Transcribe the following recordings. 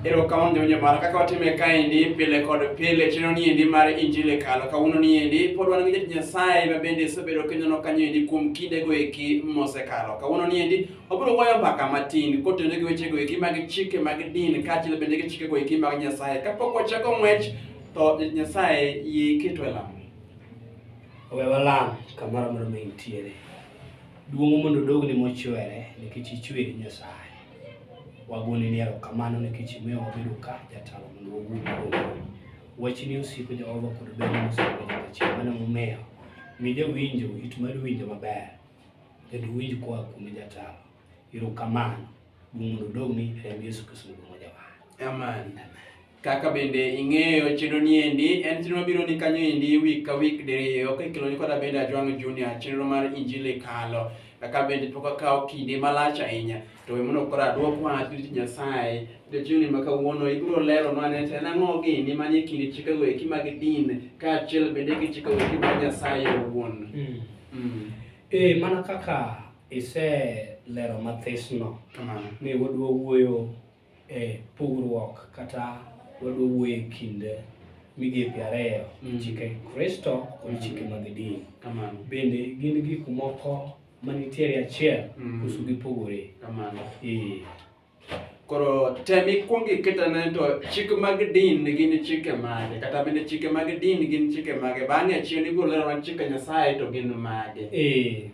Erokamano jawinjo mara kaka watime kaendi pile kod pile chenro niendi mar injili e kalo kawuono niendi pod wan gi jatich Nyasaye ma bende isebedo kinyono kanyo endi kuom kindego eki mosekalo kawuono niendi wabiro wuoyo mbaka matin kotenore gi wechego eki mag chike mag din kaachiel bende gi chikego eki mag Nyasaye kapok wachako ng'wech to jatich Nyasaye yie iketo e lamo we walam kamoro amora ma intiere duong' mondo odogni mochwere nikech ichweri Nyasaye Wagoni ni erokamano nikech imiyo wabedo ka jatalo mondo wawuo kuomi. Wachni osiko Jehova kod ber mosiko nyaka chieng' mano momiyo mi jawinjo it mar winjo maber kendo winj koa kuom jatalo. Erokamano. Duong' mondo odogni e remb Yesu Kristo mondo wajawa. Amen. Amen. Kaka bende ing'eyo chenro ni endi en chenro mabiro ni kanyo endi week ka week diriyo ka ikelo ni koda bende Ajwang' Junior chenro mar Injili kalo kaka bende pok akawo kinde malach ahinya to emono kora adwok wach ni Nyasaye jachuni ma kawuono ibiro lero nwa ne en ang'o gini manie kinde chikego eki mag din kaachiel bende gi chikego eki mag Nyasaye owuon. Mm. Mm. E, mana kaka iselero mathisno ni wadwa wuoyo e pogruok kata wadwa wuoye kinde migepe ariyo mm. chike kristo kod mm. chike mag din bende gin gik moko manitiere achiel mm. koso gipogore koro tem ikwong iketane to chik mag din gin chike mage kata bende chike mag din gin chike mage bang'e achiel igolera wan chike nyasaye to gin mage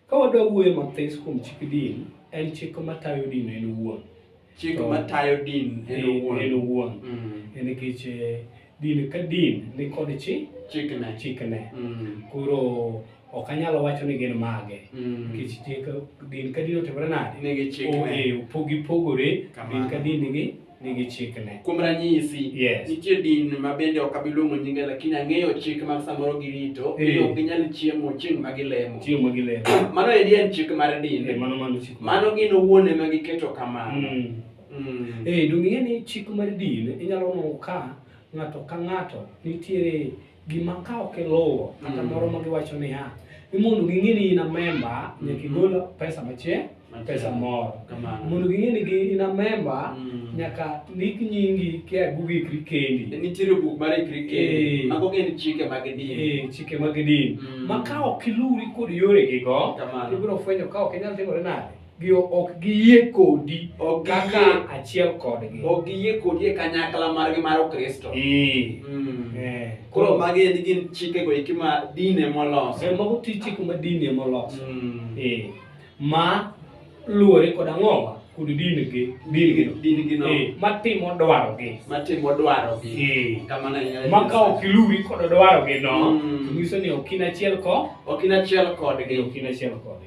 Ka wadwa wuoyo mathis kuom chik din, en chik matayo din en owuon. Chik To- matayo din en owuon. En owuon. Mm. En nikech eh, din ka din ni kod chi Chikne. chikne. Mm. Koro ok anyal wacho ni gin mage. Mm. Nikech chik din ka din otimore nade? Nigi chikne. Opogi pogore, Kamano. din ka din nigi nigi chikne. Kuom ranyisi, Yes. nitie din ma bende ok abiluongo nyinge lakini ang'eyo chik ma samoro girito Eh. ni ok ginyal chiemo chieng' ma gilemo. Chieng' ma gilemo. Mano endi en chik mar Eh, din. Mano mano chik. Mano gin owuon ema giketo kamano. Mm. Mm. Eh, donge ing'e ni chik mar din inyalo nono ka ng'ato ka ng'ato nitiere gima ka ok iluwo kata mm. moro ma giwacho niya ni mondo ging'e ni in a memba nyaka igol pesa machie pesa moro mondo ging'e ni in a memba mm. nyaka ndik nyingi kia bug ikri kendi e nitiere buk mar ikri kendi eh. mago gin chike mag din eh, chike mag din mm. ma ka ok iluwri kod yoregigo ibiro fwenyo ka ok inyal timore nade gi ok giyie kodi Ok kaka giyie. achiel kodgi Ok giyie kodi e kanyakla margi mar Ukristo. Ee, Mm. eh, Koro magi endi gin chikego eki ma din ema oloso. eh, mago ti chik ma din ema oloso Mm. Eh, ma luwore kod ang'owa kod dingi dingi Din gino Eh, matimo dwarogi matimo dwarogi. Eh, Kamano e nyalo ma ka nyiso. ok iluwi kod dwarogi no Mm. to nyiso ni ok in achiel ko Ok in achiel kodgi. ok in achiel kodgi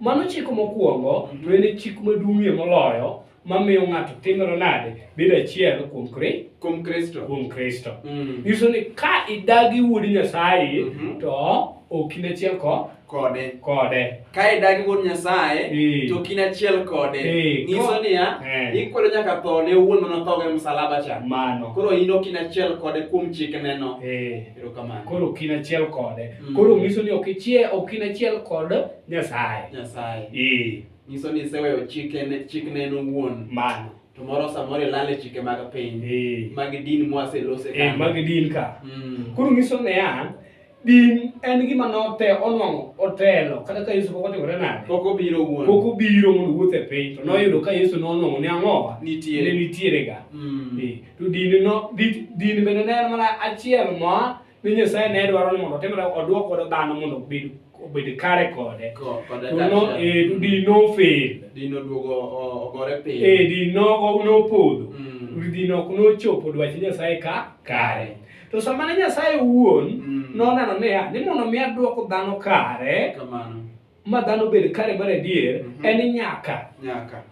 Mano chik mokwongo, to en e chik maduong'ie moloyo mamiyo ng'ato timore nade bedo achiel kuom kri kuom kristo kuom kristo mm. nyiso ni ka idagi wuod nyasaye mm -hmm. to ok in achiel ko kode kode ka idagi wuod nyasaye e. to ok in achiel kode e. nyiso niya e. ikwedo nyaka tho ne wuon manothogo e msalaba cha mano koro in ok in achiel kode kuom chikneno e. Erokamano. Koro ok in achiel kode. Mm. Koro nyiso ni ok ichie ok in achiel kod Nyasaye. Nyasaye. Ee. Nyiso ni iseweyo chikene chikne en owuon. Mano. To moro samoro ilal e chike mag piny. Ee. Mag din mwaselose ka. Ee, mag din ka. Mm. Koro nyiso ni ya din en gima note onwang'o otelo kata ka Yesu pok otimore nade. Pok obiro owuon. Pok obiro mondo owuoth e piny to noyudo ka Yesu nonwang'o ni ang'owa. Nitiere. Ne nitiere ga. Mm. Ee. to din no din bende ne en mana achiel ma ni Nyasaye ne dwaro ni mondo otimre oduok godo dhano mondo obed obed kare kode no e to din no fail din oduogo ogore piny e din no no podho mm. din ok no chopo dwach Nyasaye ka kare to sama ne Nyasaye wuon mm. noneno niya ni mondo mi aduok dhano kare kamano ma dhano bed kare mar adier mm -hmm. en nyaka nyaka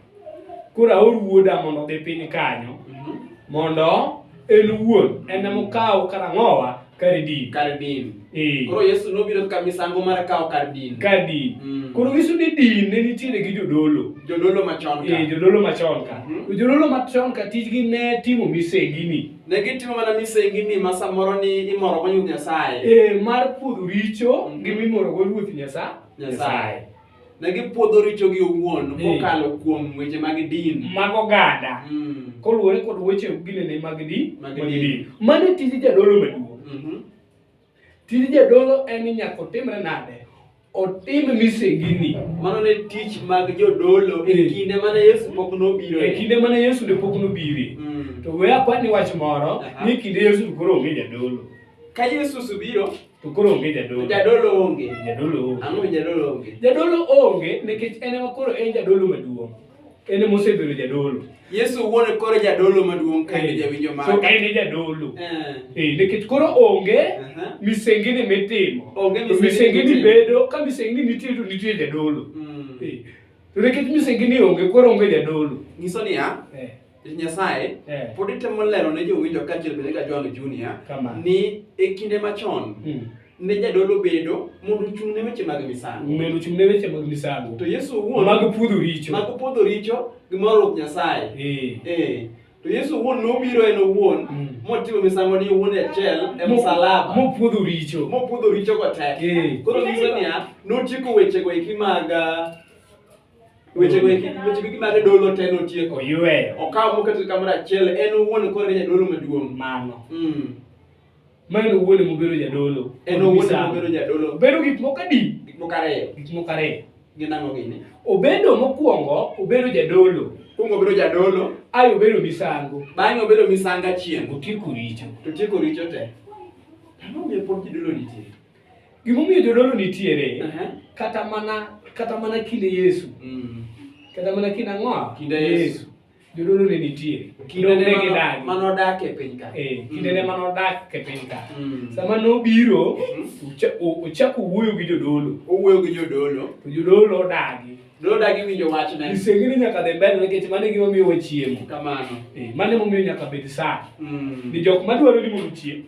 koro aor wuoda mondo odhi piny kanyo mm -hmm. mondo en wuon en mokaw karang'owa kar din kar din e. koro yesu nobiro ka misango mar kawo kar din kar din mm. koro nyiso ni din ne nitiere gi jodolo jodolo machon ka e, jodolo machon ka mm -hmm. jodolo machon ka tijgi ne timo misengini Ne gitimo mana misengini ma samoro ni imorogo Ruoth Nyasaye. Eh, mar pudho richo mm-hmm. gi mimorogo Ruoth Nyasaye. Nyasaye. Ne gipwodho richogi owuon eh. kokalo kuom weche mag din. Mag oganda. Mm. Koluwore kod weche ginene mag din. Mag din. Mano tij jadolo maduong'. Mm-hmm. Tij jadolo en ni nyaka otimre nade? Otim misengini. Mano ne tich mag jodolo e eh. kinde mane Yesu pok nobiro. E kinde mane Yesu ne pok nobiri. Mm. To we akwani wach moro ni kinde Yesu koro onge jadolo. Ka Yesu subiro to koro onge jadolo. Jadolo onge. Jadolo onge. Ang'o jadolo onge? Jadolo onge nikech en ema koro en jadolo maduong'. En ema osebedo jadolo. Yesu owuon e koro jadolo maduong' ka en e jawinjo mare. So en e jadolo. Eh. eh nikech koro onge misengini mitimo. Onge misengini bedo ka misengini nitie to nitie jadolo. Mm. Eh. To nikech misengini onge koro onge jadolo. Nyiso niya, eh. Nyasaye eh. pod itemo lero ne jowinjo kaachiel bende ka John Junior ni e kinde machon hmm. ne jadolo bedo mondo ochung' ne weche mag misango mondo ochung' ne weche mag misango to Yesu owuon mag puodho richo mag puodho richo gi mar Ruoth Nyasaye eh. eh. to Yesu owuon nobiro en owuon hmm. motimo misango ni owuon e achiel e msalaba mopuodho richo mopuodho richo kotek eh. koro nyiso niya notieko wechego eki mag ah, weche go eki weche go gimane dolo te notieko oyueyo okawo moketo kamoro achiel en owuon koro en jadolo maduong' mano Mm. ma en owuon ema obedo jadolo en owuon Misango. ema obedo jadolo obedo gik moko adi gik moko ariyo gik moko ariyo gin ang'o gini obedo mokwongo obedo jadolo kuongo obedo jadolo ae obedo misango bang'e obedo misango achiel otieko richo to tieko richo te ang'o miyo pod jidolo nitie Gimomiyo jodolo nitiere Aha. kata mana kata mana kinde Yesu Mm. kata mana kinde ang'o Kinde Yesu. jodolo ne nitiere Kinde ne Nonge mano- gidagi. mano dak e piny ka. Eh, kinde ne mano dak e piny ka Mm. sama nobiro Mhm. ocha- o- ochako wuoyo gi jodolo Owuoyo gi jodolo. to jodolo odagi Jodolo dagi winjo wachne. isengini nyaka dhi mbele nikech mano e gimomiyo wachiemo Kamano. Eh, mano emomiyo nyaka bed saa Mm. ni jok madwaro ni mondo ochiem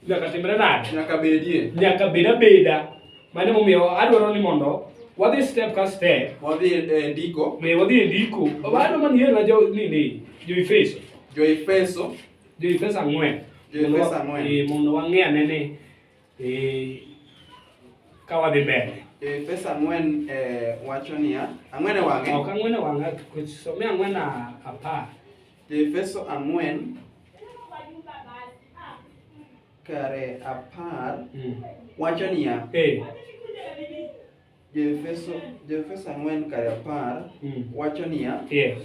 nyaka timre nade nyaka bedie nyaka bed abeda mane momiyo adwaro ni mondo wadhi step ka step wadhi e ndiko me wadhi e ndiko bado man yena jo nini jo Efeso jo Efeso jo Efeso ang'wen jo Efeso ang'wen e mondo wang'e ane ni e ka wadhi mbele e pesa ang'wen e wacho niya ang'wen e wang'e ok ang'wen e wang'e somia ang'wen apar Joefeso ang'wen kare apar Mm. wacho niya, Eh. Joefeso Joefeso ang'wen kare apar Mm. wacho niya, Yes.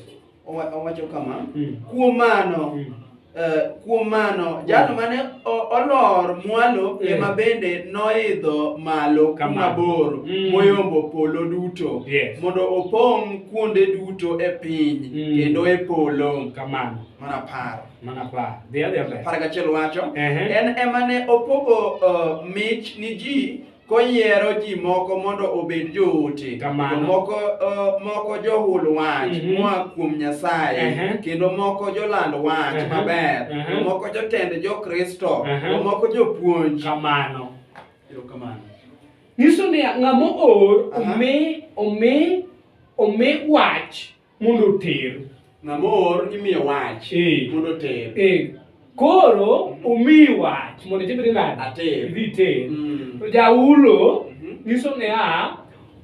owa- owacho kama, Mm. kuom mano Mm. eh, kuom mano jal mane o- olor mwalo Eh. ema bende noidho malo Kama. kuma bor Mm. moyombo polo duto Yes. mondo opong' kuonde duto e piny mm. kendo e polo kamano mana apar mana apar dhi adhi mbele apar gachiel wacho uh -huh. en ema ne opogo uh, mich ni ji koyiero ji moko mondo obed joote moko uh, moko johul wach mm -hmm. moa kuom nyasaye uh -huh. kendo moko joland wach uh -huh. maber uh -huh. moko jotend jokristo uh -huh. moko jopuonj kamano kamano Nyiso ni ng'ama oor omi omi omi wach mondo oter. Ng'ama oor imiyo wach eh. mondo oter. Eh. Koro mm-hmm. omi wach mondo itibri nade? Ater. Idhi ter. Mm. To jaulo mm-hmm. nyiso ni a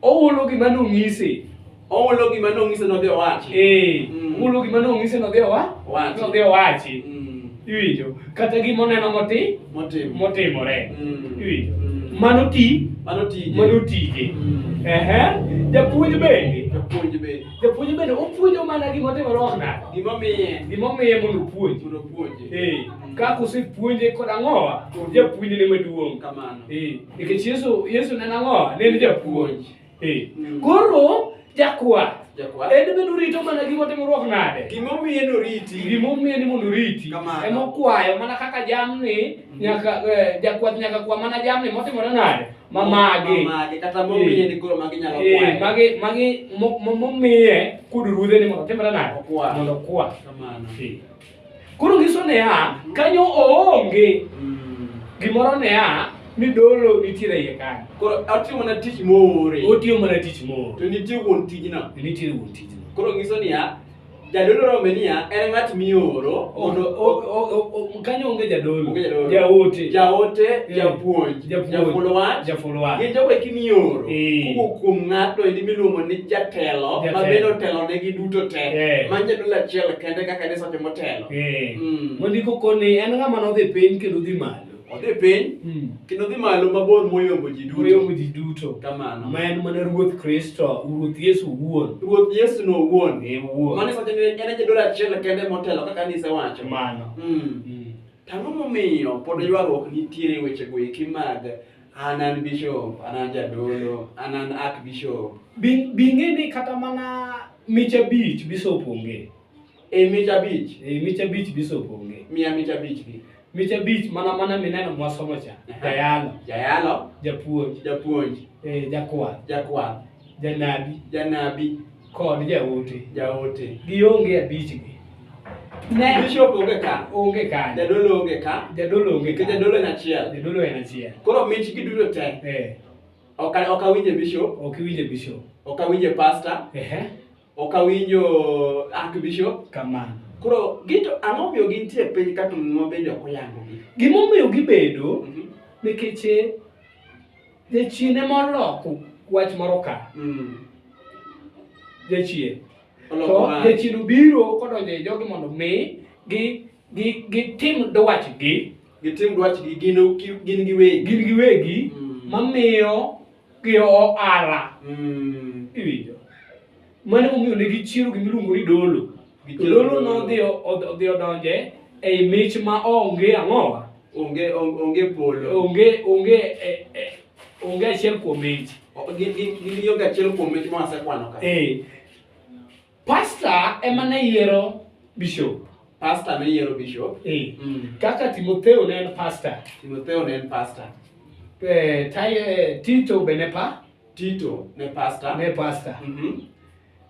ohulo gima nonyisi. Ohulo gima nong'ise nodhi owachi. Eh, Mm. ohulo gima nong'ise nodhi owa- Owachi. nodhi owachi. Mm. Iwinjo? Kata gima oneno moti- Motimo. motimore. Mm. Iwinjo? Mm. Mano ti- Mano tije. mano tije. Mm. Ehe. Japuonj bende. Japuonj be. Japuonj bende opuonjo mana gima otimore ok nade. Gima omiye Gima omiye mondo opuonj. mondo opuonje. Eh, Mm. kaka osepuonje kod ang'owa, japuonjne maduong'. Kamano. Eh, nikech Yesu Yesu ne en ang'owa, ne en japuonj. Mm. Koro jakwath Jakwath. en bende orito mana gima timruok nade? Gimomiyo en oriti. Gimomiyo ni mondo oriti Kamano. ema okwayo mana kaka jamni nyaka eh, jakwath nyaka kwa mana jamni motimore nade? Ma magi. Mamage, kata momiye ni koro magi nyalo Eh, kwayo. magi magi mo- mo- momiye kod ruodhe ni mondo otimre nade? Okwa. Mondo okwa. Kamano. Eh. Koro nyiso niya, kanyo oonge mm. gimoro niya ni dolo nitiere iye kanyo. Koro otiyo mana tich moore. Otiyo mana tich moore. To nitie wuon tijno. Nitie wuon tijno. Koro nyiso niya, jadolo rombe niya en ng'at mioro mondo kanyo onge jadolo jaote jaote eh, japuonj jaful wach jaful wach gin jogo eki mioro eh. kowuok kuom ng'ato endi miluongo ni jatelo ma bende otelonegi duto te eh. ma jadolo achiel kende kaka ne sote motelo Eh. Mm. mondiko koni en ng'ama nodhi piny kendo dhi malo odhi piny Mm. kendo dhi malo mabor moyombo ji moyombo duto ji duto kamano ma en mana ruoth kristo ruoth yesu wuon ruoth yesu no owuon e wuon mane sote ni en e jadolo achiel kende motelo kaka nisewacho mano Mm. Mm. Tang'o momiyo pod ywaruok nitiere wechego eki mag an an bishop, an an jadolo, an an archbishop. Bi- bing'e ni kata mana mich abich bisop onge Ei mich abich. Ei mich abich bisop onge. Miya mich abich gi. Mich abich mana mana mineno mwasomo cha. Jayalo. Jayalo. Japuonj. Japuonj. Eh, jakwath. Jakwath. Janabi. Janabi. Kod jaote. Jaote. Gionge abich gi. Ne. Bishop onge ka. Onge ka. Jadolo onge ka. Jadolo onge ka. Jadolo en achiel. Jadolo en achiel. Koro mich gi duto te. Eh. Oka oka winje bishop. Ok winje bishop. Oka winje pastor. Ehe. Ok awinjo Archbishop. Kamano. Koro gito ang'o miyo gintie e piny ka to muma bende ok oyangogi? Gima omiyo gibedo mhm. nikech eh, jachien ema oloko wach moro ka. Mm. Jachien. To jachien obiro kodonjo e jogi mondo mi gi gi gitim dwachgi. Gitim dwachgi gin giwegi. Gin giwegi mm. mamiyo gi ohala mm. iwinjo mane omiyo ne gichiero gima iluongo ni dolo to dolo nodhi odhi odonje ei mich ma onge ang'owa onge onge polo onge onge e, e, onge achiel kuom mich gin gin gin achiel kuom mich ma wasekwano ka eh Pasta ema ne yiero bishop. Pasta ne yiero bishop. Eh. Mm. Kaka Timotheo ne en pasta. Timotheo ne en pasta. Eh, tai, eh, Tito be ne pa? Tito ne pasta. Ne pasta. Mm -hmm.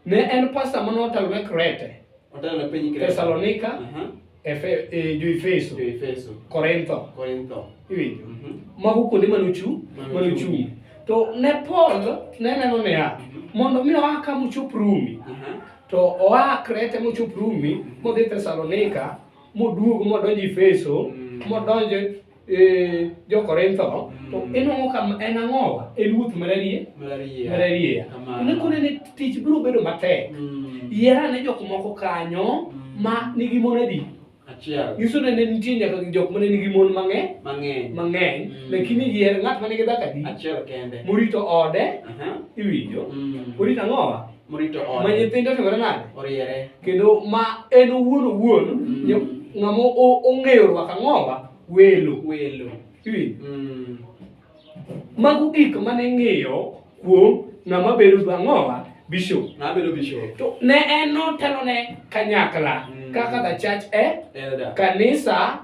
Ne en pasta mano otelo ne Krete. Otelo ne piny Krete. Thessalonika. Uh mhm. -huh. Efe, eh, jo Efeso, jo Efeso, Korintho, Korintho. Iwinjo? Mm -hmm. Mago kuonde mane ochung', mane ochung'. To ne Paul ne neno niya, mhm. mondo mi oa ka mochop Rumi. Uh mhm. -huh. To oa Krete mochop Rumi, mhm. modhi Thessalonika, moduog modonjo Efeso, mm -hmm. modonjo eh, jo-korintho no to Mm. inwang'o ka en ang'owa en wuoth mararie Malaria. mararie Kamano. ne kone ne tich biro bedo matek Mm. yier ane jok moko kanyo Mm. ma nigi mon adi Achiel. nyiso ni ne nitie nyaka jok mane nigi mon mang'eny Mang'eny. mang'eny Mm. lakini yier ng'at ma nigi dhako adi Achiel kende. morito ode Aha. iwinjo Mm. orito ang'owa morito ma ode nyithindo otimore nade oriere kendo ma en owuon owuon Mm. nyo- ng'ama o- ong'eyo rwako ang'owa welo welo Iwinjo? Mm. mago gik mane ing'iyo kuom ng'ama bedo gi ang'owa bishop nabedo bishop to ne en notelo ne kanyakla Mm. kaka the church e elder kanisa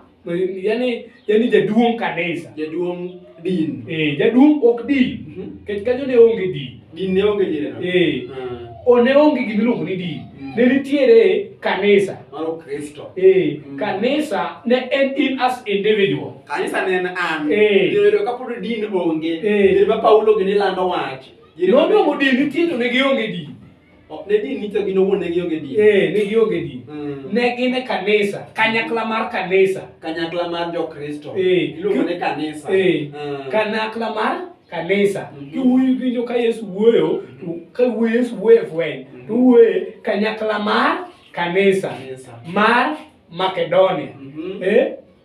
yani yani jaduong' kanisa jaduong' din eh jaduong' ok din mhm. kech kanyo ne onge din din ne onge jireno eh ah. o ne onge gima iluongo ni din mm. ne nitiere kanisa mano kristo eh mm. kanisa ne en in as individual kanisa ne en an eh jireno ka pod din onge eh ma paulo gini lando wach jireno no no din nitiere ne gionge din Ok, Ne din nicho gin owuon ne gionge din. Eh, ne gionge din. Mm. Ne gin e kanisa, kanyakla mar kanisa. Kanyakla mar Jokristo. Eh. Iluongo ni kanisa. Eh, Mm. kanakla mar kanisa. Mhm. Kiwuoyo winjo ka Yesu wuoyo, to ka wuoyo Yesu wuoyo e fweny, Mhm. to wuoyo kanyakla mar kanisa Kanisa. mar Makedonia. Mhm. Eh,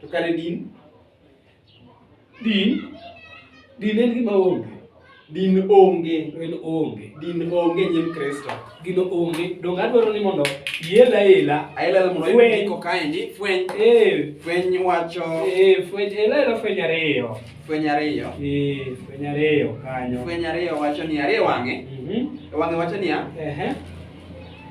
To kare din, din, din en gima onge. Din onge. En onge. Din onge nyim Kristo. Gino onge. Donge adwaro ni mondo iela ela. Aela ela mondo Fweny. ayud iko kaendi. Fweny. Eh, Fweny wacho. eh, fweny, ela ela fweny ariyo. Fweny ariyo. Eh, fweny ariyo kanyo. Fweny ariyo wacho ni ariyo wang'e. Mhm. Wang'e wacho niya, Ehe.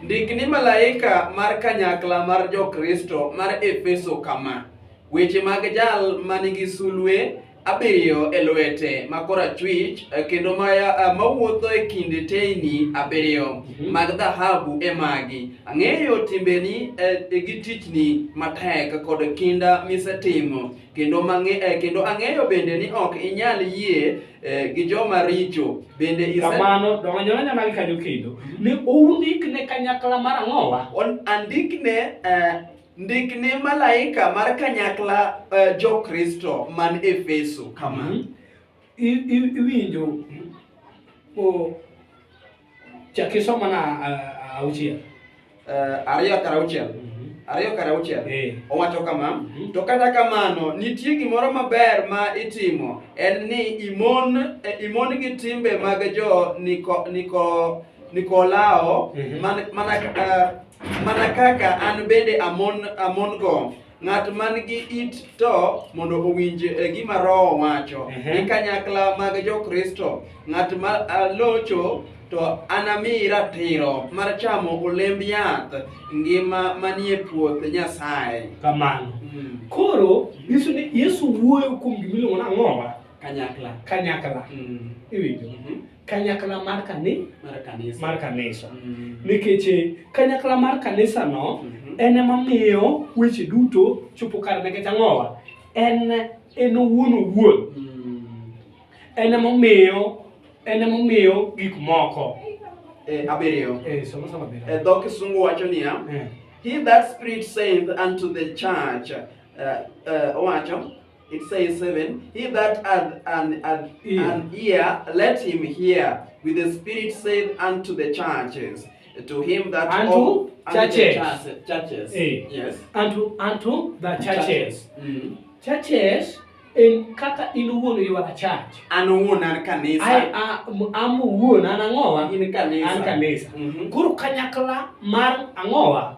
Ndik ni malaika mar kanyakla mar Jokristo mar Efeso kama, Weche mag jal ma nigi sulwe abiriyo e lwete ma korachwich eh, kendo ma eh, mawuotho e kind teyni abiriyo mhm. mag dhahabu e magi ang'eyo timbeni eh, gi tichni matek kod kinda misetimo kendo mang'e, eh, kendo ang'eyo bende ni ok inyal yie eh, gi joma richo bende ise- kamano dongonyoranya magi kanyo kendo ne oundik ne kanyakla mar ang'owa On- andikne eh, ndikne malaika mar kanyakla eh, jokristo man efeso kama I- i- iwinjo o- Chaki so mana auchiel. Uh, ariyo kar auchiel. Mm -hmm. Ariyo kar auchiel. Hey. Eh. Owacho kama, mm -hmm. to kata kamano nitie gimoro maber ma itimo en ni imon eh, imon gi timbe mag jo niko niko Nikolao mm -hmm. man, mana, uh, mana kaka an bende amon amon go Ng'at man gi it to mondo owinj e gima Roho wacho. Ehe. Ni kanyakla mag Jokristo, ng'at ma ah, locho to anami ratiro mar chamo olemb yath ngima manie puoth Nyasaye. Kamano. Mm. Koro nyiso ni Yesu wuoyo kuom gima iluongo ni ang'owa Kanyakla. kanyakla. Mm. Iwinjo? Mhm. kanyakla mar kani mar kanisa mar kanisa mm. nikech eh, kanyakla mar kanisa no mm -hmm. en ema miyo weche duto chopo kar nikech ang'owa en en owuon owuon mm. en ema miyo en ema miyo gik moko eh, abiriyo eh, somo somo abiriyo eh, dho kisungu wacho niya eh. he that spirit saith unto the church uh, uh, owacho It says 7 He that hath an, an, ear. an ear, let him hear. With the Spirit said unto the churches, to him that unto all, churches. Unto the churches. Hey. Eh. Yes. Unto, unto the churches. Churches. Mm. churches en kaka in wuon ywara church an wuon an kanisa ai am wuon an ang'owa in kanisa an kanisa mm -hmm. koro kanyakla mar ang'owa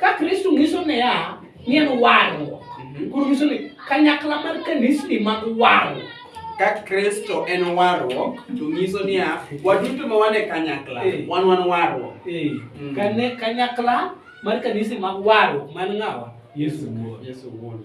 ka kristo nyiso niya ni en warruok mhm. koro nyiso ni kanyakla mar kanisni mag warruok ka kristo en warruok to nyiso niya waduto ma wan e kanyakla eh. wan wan warruok eh. mm. kane kanyakla mar kanisni mag warruok man ng'awa yesu wuon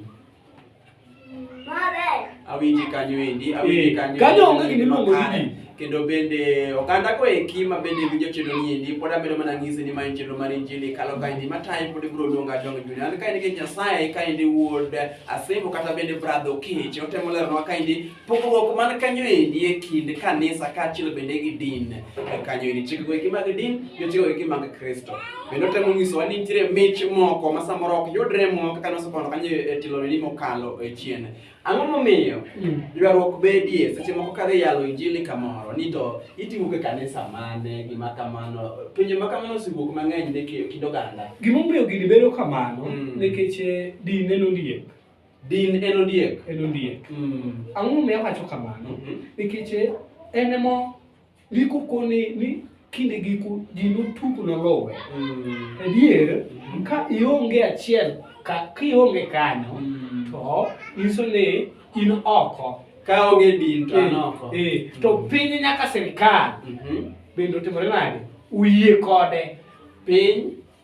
awinji kanyo endi awinji kanyo kanyo onge gini luongo ni kendo bende oganda ko eki ma bende winjo chenro ni endi pod amedo mana ng'isi ni ma en chenro mar injili kalo ka endi mataye pod ibiro luonga jong juni an ka endi gi nyasaye ka endi wuod asemo kata bende bradho kich otemoleronwa ka endi Pogruok man kanyo endi e kind kanisa kaachiel bende gi din e kanyo endi chikego eki mag din gi chikego eki mag Kristo. Bende otemo nyisowa ni nitiere mich moko ma samoro ok yudre mwa kaka nosepono kanyo e tiloneni mokalo e chien. Ang'o momiyo hmm. ywaruok bedie seche moko kadhi yalo injili kamoro ni to itimo ke kanisa mane gima kamano pinje ma kamano osewuok mang'eny ne kind oganda. Gimomiyo gini bedo kamano hmm. nikech eh, din en ondiek. Din en ondiek. En ondiek. Mm. Ang'o momiyo awacho kamano? Mm -hmm. Nikech eh, en emo ndiko koni ni kinde giko ji notugo nolowe. Mm. Adier, mm. ka ionge achiel, ka ionge kanyo, mm. to nyiso ni in oko. Ka onge din to an eh, oko. Eh, to mm. piny nyaka sirkal. Mm -hmm. Bende otimore nade? Uyie kode. Piny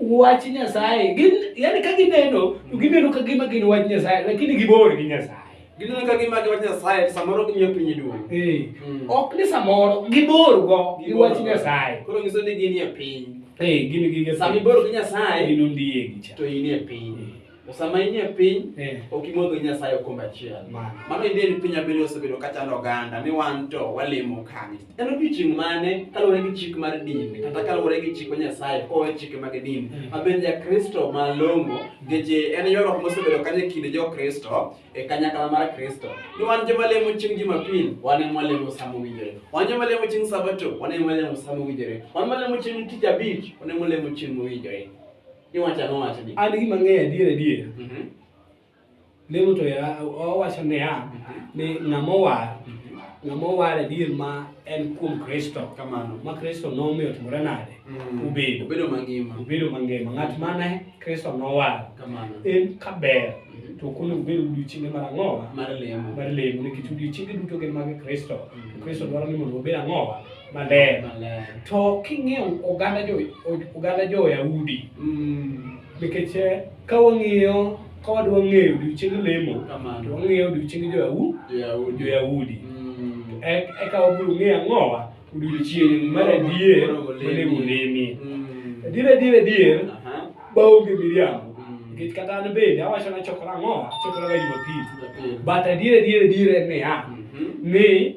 wach Nyasaye. Gin yani ka gineno to gineno ka gima gin wach Nyasaye lakini gibor gi Nyasaye. Gineno ka gima gin wach Nyasaye samoro gimiyo piny duong'. Eh. Mm. Ok ni samoro gibor go gi wach Nyasaye. Koro nyiso ni gin e piny. Eh, gin gi Nyasaye. Sami bor gi Nyasaye. Gin ondiegi cha. To in e piny. Eh. To sama in e piny, Eh. ok imodho gi Nyasaye okombe achiel. Ma. Mano inde ni piny abiriyo osebedo ka chando oganda ni wan to walemo kanye. En odiechieng' mane kaluwore gi chik mar dini kata kaluwore gi chik ma Nyasaye kowe chike mag dini. Mm. Ma bende Jakristo malong'o ngeche en ywaruok mosebedo kanyo e kind Jokristo e kanyakla mar Kristo. Ni wan joma lemo chieng' Jumapil, wan ema walemo sama owinjore. Wan joma lemo chieng' Sabato, wan ema walemo sama owinjore. Wan malemo chieng' Tich Abich, wan ema walemo chieng' mowinjore. Iwacho ang'o wachni? An gima ng'eyo adier adier. Mhm. Lemo to ya- owacho niya ni ng'ama owar ng'ama owar adier ma en kuom Kristo Kamano. ma Kristo nomiyo otimore nade Mm. obedo Obedo mangima. obedo mangima ng'at mane Kristo nowar Kamano. en kaber Mhm. to konego obed odiochienge mar ang'owa Mar lemo. mar lemo nikech odiochienge duto gin mag Kristo Mm. Kristo dwaro ni mondo wabed ang'owa maler Maler. to king'iyo oganda jo oganda jo Yahudi Mm. nikech eh, ka wang'iyo ka wadwa ng'eyo odiochieng lemo to Kamano. wang'iyo odiochieng jo Yahudi jo Yahudi. Yahudi Mm. E- eka wabiro ng'eyo ang'owa odiochieng mar adier Monego olemi. monego olemie Mm. adier adier adier Aha. baonge miriambo Mm. nikech kata an bende awacho ni achokora ang'owa achokoraga Jumapil Jumapil. but adier adier adier en niya Mhm. ni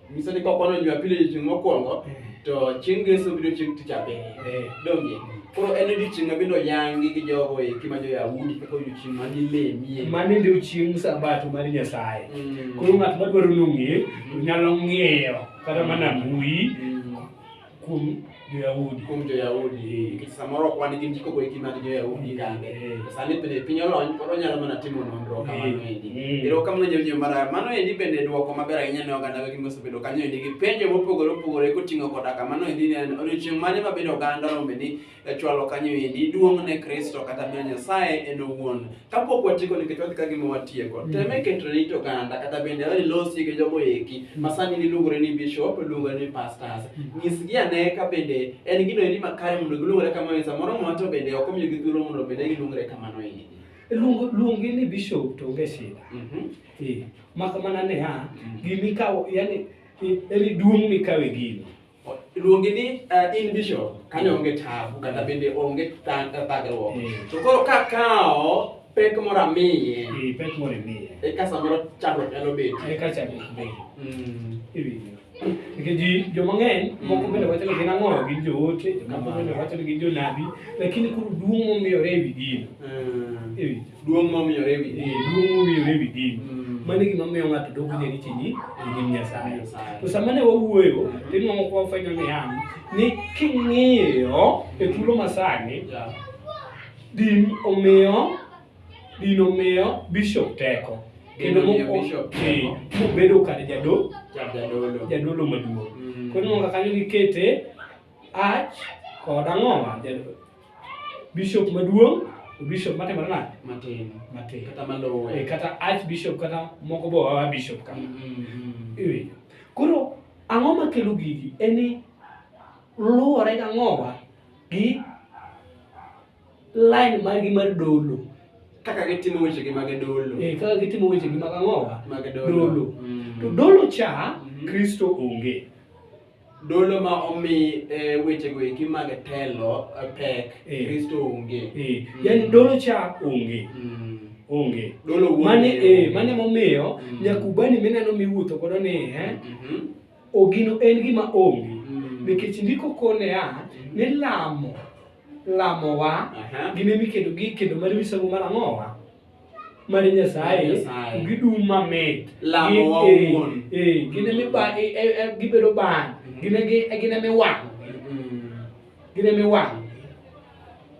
Nyiso ni kokwano Jumapili odiechieng' mokwongo eh. to chieng' Ngeso biro chieng' Tich Abiriyo. Eh. Donge? Koro en odiechieng' ma bende oyangi gi jogo eki ma jo-Yahudi kaka odiechieng' ma nilemie. Mano ndio chieng' Sabato mar Nyasaye. Mm. Koro ng'at madwaro nong'e to nyalo ng'iyo kata mana mbui mm. kuom jo-Yahudi. kuom jo-Yahudi eh, nikech samoro ok wan gi ndiko goeki mag jo-Yahudi eh, kande eh. sani pile piny olony koro onyalo mana timo nonro kamano endi ero kamano jawinjo mara mano endi bende dwoko maber ahinya ne oganda wegi mosebedo kanyo endi gi penjo mopogore opogore koting'o koda kamano endi ne odiochieng' mane mabedo oganda rombe ni e chwalo kanyo endi duong' ne Kristo kata miyo Nyasaye en owuon. Kapok watieko nikech wadhi ka gima watieko, mm. teme keto ne oganda kata bende wani losi gi jogo eki mm. ma sani niluongore ni bishop, luongore ni pastors. Mm. Nyisgi ane ka bende en gino endi makare mondo giluongore kamano, samoro mwa to bende ok omiyo gi thuolo mondo bende giluongore kamano endi. Luong, luongi ni bishop to onge shida. Mm -hmm. Eh, mak mana niya, mm. gimikawo, yani, eh, eri duong' mikawe gino. luongi ni uh, in vision kanyo onge tabu kata bende onge thagruok eh. to koro ka kawo pek moro amiye eh, pek moro imiye e ka samoro chandruok nyalo bedo e ka chandruok bedo mm. iwinjo nikech ji joma ng'eny mm. moko bende wacho ni gin ang'o gin joote jomoko bende wacho ni gin jonabi lakini koro duong' momiyore e wi gino mm. iwinjo Duong' momiyore e wi din. Eh, duong' momiyore e wi din. Mm. Mano e gima miyo ng'ato dok winjo ni chini e nyim Nyasaye. To sama ne wawuoyo, mm. to inwang'o kwa wafwenyo ni an, ni king'iyo e thuolo masani, din omiyo, din omiyo bishop teko. Kendo mobedo kar jadolo, jadolo maduong'. Mm. Koro inwang'o kanyo gikete ach kod ang'o bishop maduong' to bishop matimore nade matin matin kata malowe eh, kata archbishop kata moko bo wawa bishop ka mm, mm, mm. iwinjo koro ang'o makelo gigi en ni luwore gang'owa gi line margi mar dolo kaka gitimo weche gi mag dolo eh kaka gitimo weche gi mag ang'owa mag dolo to dolo cha kristo onge dolo ma omi e, wechego eki mag telo e, pek Eh. kristo onge Eh, yani dolo cha onge Mm. onge Dolo wuon mane ng'eyo eh, onge. mane momiyo Mm. nyakubani mineno miwuotho godo ni eh, Mhm. ogino en gima onge Mm. nikech ndiko kone a ni lamo lamowa Aha. gine mikendo gi kendo mar misango mar ang'owa mar Nyasaye gidum mamit lamo wa eh, wuon eh gin mi ba eh, eh, eh gibedo ba mm-hmm. gin gi gin mi wa mm-hmm. gin mi wa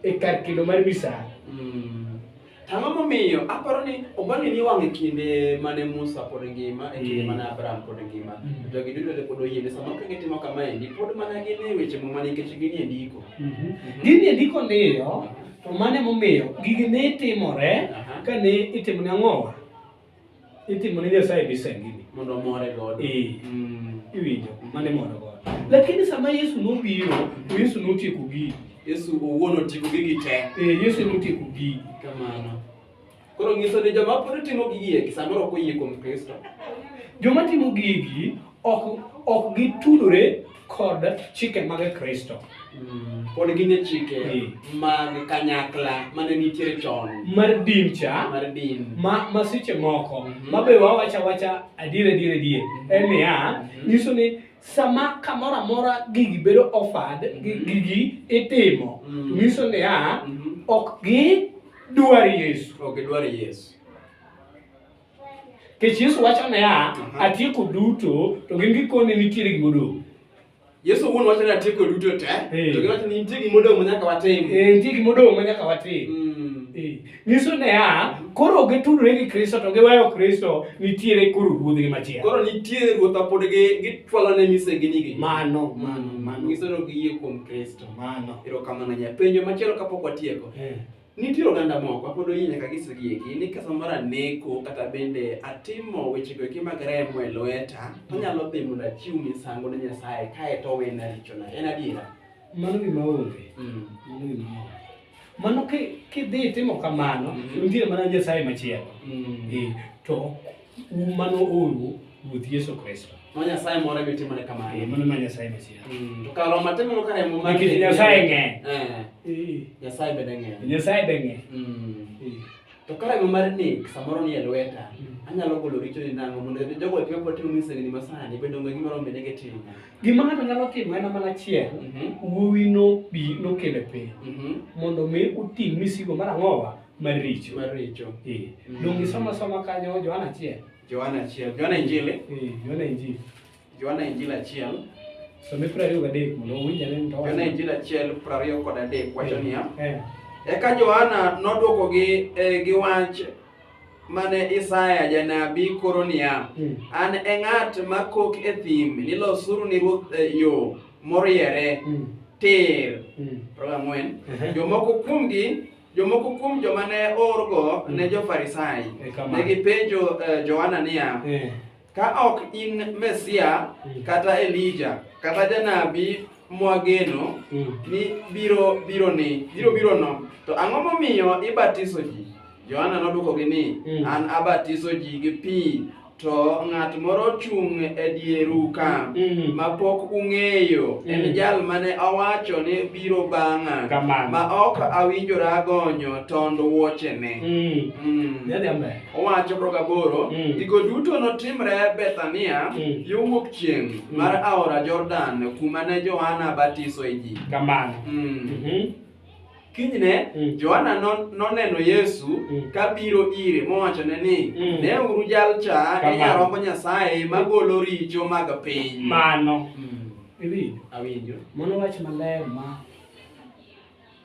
e kar kendo mar misa mm-hmm. Ang'o momiyo aparo ni oganda ni wang' e kinde mane Musa pod ngima e kinde mane Abraham pod ngima jogi duto te pod oyiene sama ok gitimo kama endi pod mana gin e weche muma nikech gin e ndiko. Gin e ndiko niyo To mane momiyo gigi ne timore ka ne itimo ne ang'owa? Itimo ne Nyasaye misengini. Mondo omore godo. Ee. Mm. Iwinjo, mane moro godo. Lakini sama Yesu nobiro, to Yesu notieko gigi. Yesu owuon otieko gigi te. Ee, Yesu notieko gigi. Kamano. Koro nyiso ni joma pod timo gigi eki samoro ok oyie kuom Kristo. Joma timo gigi ok ok gitudore kod chike mag Kristo. Mm, pod gin e chike mm. mag kanyakla mane nitiere chon. Mar din cha. Mar din. Ma, ma seche moko. Mm -hmm. Ma be wawacha wacha adier adier adier. Mm -hmm. En niya, mm -hmm. nyiso ni sama kamoro amora gigi bedo offered mm -hmm. gigi itimo mm -hmm. nyiso niya mm -hmm. ok gidwar yesu ok gidwar yesu kech yesu wacho niya uh -huh. atieko duto to gin gikone nitiere gimodong' yesu wuon wacho ni atieko duto te hey. to giwacho ni nitie gimodong' ma nyaka watim hey, eh, nitie gimodong' ma nyaka watim mm. hey. Eh. nyiso ne a koro gi tudre gi Kristo to giweyo Kristo nitiere koro ruodh gi machielo koro nitiere ruodha pod gi gi twala ne mise gi nigi mano mano mano nyiso no gi yie kuom Kristo mano ero kamano nya penjo machielo kapok watieko eh. nitiere oganda moko pod oyie nyaka gi sigi gi ni kasa mara neko kata bende atimo weche go ki mag remo e lweta to mm. nyalo dhi mondo achiw misango ne Nyasaye kae to wena richo na en adiera mano gima onge mm. mano gima onge Mano kidhi itimo kamano, mm-hmm. nitie mana Nyasaye machielo. Mm. Eh, to mano oru Ruoth Yesu Kristo. Ma Nyasaye moro ebe timore kamano. Eh, mano ma Nyasaye machielo. Mm, to kar Roma timo ka remo mar Nyasaye ng'eny. Eh. eh. Nyasaye bende ng'eny. Nyasaye bende ng'eny. Mm. To karang'o mar nek samoro ni e lweta, anyalo golo richo ni nang'o mondo jogo epime pod timo misengni masani bende onge gima rombe nege timo. Gima ng'ato nyalo timo en mana achiel, Mhm, wuowi nobi nokele piny mhm, mondo mi uting' misigo mar ang'owa mar richo. mar richo. Eh, Mhm. Donge soma soma kanyo Johana achiel. Johana achiel, Johana Injili. Eh, Johana Injili. Johana Injili achiel Some piero ariyo gadek mondo owinj ane ni to Johana Injili achiel piero ariyo kod adek wacho niya Eh, Eka Johana nodwokogi eh, gi wach mane Isaya janabi koro niya, mm, An e ng'at ma kok e thim ni losuru ni Ruoth eh, yo moriere mm, tir. mm, Piero ang'wen. ehe. Jomoko kuomgi jomoko kuom joma ne orgo ne jo-Farisai. E kama. Ne gipenjo eh, Johana niya, Eh, Ka ok in Mesia mm. kata Elija kata janabi mwageno mm. ni biro biro ni biro biro no to ang'o momiyo ibatiso ji? Yohana nodwokogi ni mm. an abatiso ji gi pi to ng'at moro chung' e dieru ka ma pok ung'eyo en jal mane awacho ni biro bang'a ma ok awinjora gonyo tond wuochene. Owacho to gaboro, Mm. gigo duto notimre Bethania Mm. yo wuok chieng' Mm. mar aora Jordan kuma ne Johana batisoe ji. Kamano. Mm. Mhm. Kinyne Mm. Johana non- noneno Yesu Mm. kabiro ire mowachone ni Mm. ne uru jal cha e Kamano. nyarombo Nyasaye magolo richo mag piny. Mano. Mm. Iwinjo? Awinjo. Mano wach maler ma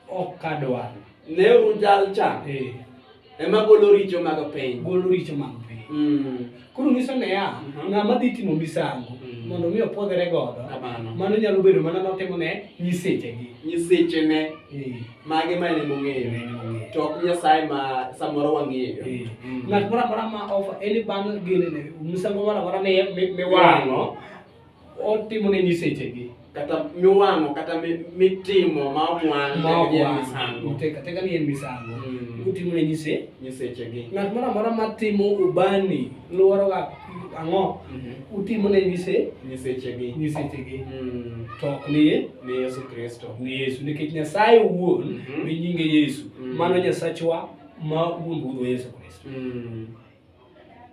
ok kadwar. Neuru jal cha. Eh. Ema golo richo mag piny. Golo richo mag piny. Mm. Koro nyiso ne ya, mm -hmm. ng'ama dhi timo misango mm. mondo mi opwodhre godo. Mano nyalo bedo mana notimo ne nyiseche gi. Nyiseche ne. Eh. Mage ma ne mong'eyo. To ok Nyasaye ma samoro wang'eyo. Eh. Mm. Ng'at moro amora ma ofa en bang' gene ne misango moro amora ne miwang'o. otimo ne nyisechegi kata miwang'o kata mitimo ma omwang'o teka teka ni en misango mm. utimo ne nyise nyisechegi ng'at moro amora matimo ubani lworoga ang'o mm-hmm. utimo ne nyise nyisechegi nyisechegi mm. to ok ni ni Yesu Kristo ni Yesu nikech Nyasaye owuon mm-hmm. mi nyinge Yesu mm. mano Nyasachwa ma wuon budho Yesu Kristo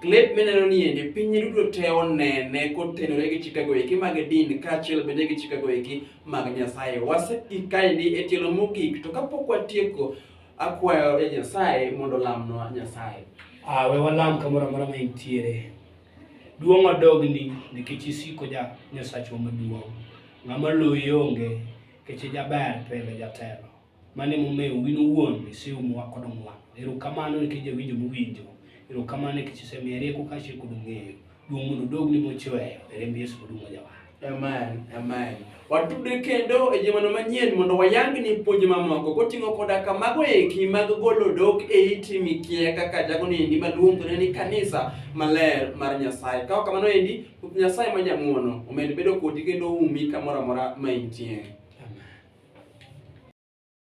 Klep mineno ni endi piny duto te onene kotenore gi chikego eki mag din kaachiel bende gi chikego eki mag Nyasaye. Waseikaendi e tielo mogik to kapok watieko akwayo e Nyasaye mondo lamnwa Nyasaye. Ah, we walam kamoro amora ma intiere. Duong' odogni nikech isiko ja Nyasachwa maduong'. Ng'ama loyi onge nikech ijaber pile jatelo. Mane momewo win owuon iseyo mowa kod ong'wano. Ero kamano nikech jawinjo mowinjo. Ero kamano nikech isemiya rieko kaachiel kod ng'eyo. Duong' mondo odogni mochweyo. E remb Yesu moduong' wajawa. Amen, amen. Watude kendo e jumano manyien mondo wayang ni puonj mamoko koting'o koda ka mago eki mag golo dok e iti mikia kaka jago ni endi maluongore ni kanisa maler mar Nyasaye. Kaok kamano endi Ruoth Nyasaye ma jang'wono omed bedo kodi kendo oumi kamoro amora ma intie.